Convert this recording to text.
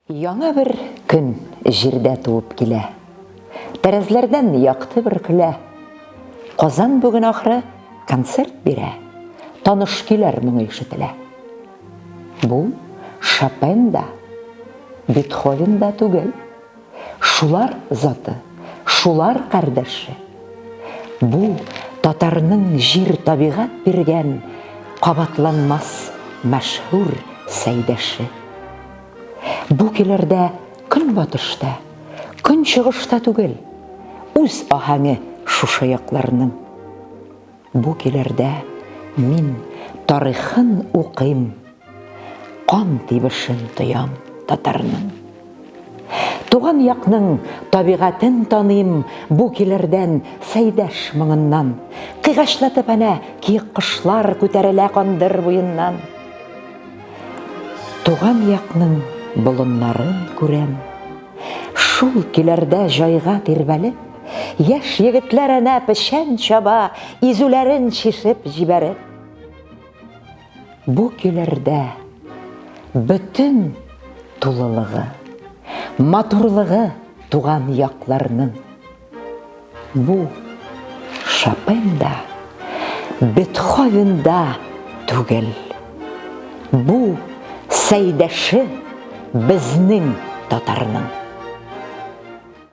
Яңа бер көн җирдә туып килә. Тәрәзләрдән якты бер көлә. Казан бүген ахры концерт бирә. Таныш көйләр моңы ишетелә. Бу Шопен да, Бетховен да түгел. Шулар заты, шулар кардәше. Бу татарның җир табигать биргән кабатланмас мәшһүр сәйдәше. Бу килердә көнбатышта, көнчыгышта түгел, үз аһәңе шушы якларның. Бу килердә мин тарихын укыйм, кан тибешен тоям татарның. Туган якның табигатен таныйм бу килердән сәйдәш моңыннан. Кыйгачлатып әнә киек кошлар күтәрелә кандыр буеннан. Туган якның болыннарын күрәм. Шул киләрдә җайга тирбәлеп, Яшь егетләр әнә печән чаба, Изүләрен чишеп җибәреп. Бу киләрдә бөтен тулылыгы, Матурлыгы туган якларның. Бу Шопен да, Бетховен да түгел. Бу Сәйдәше безнең татарның.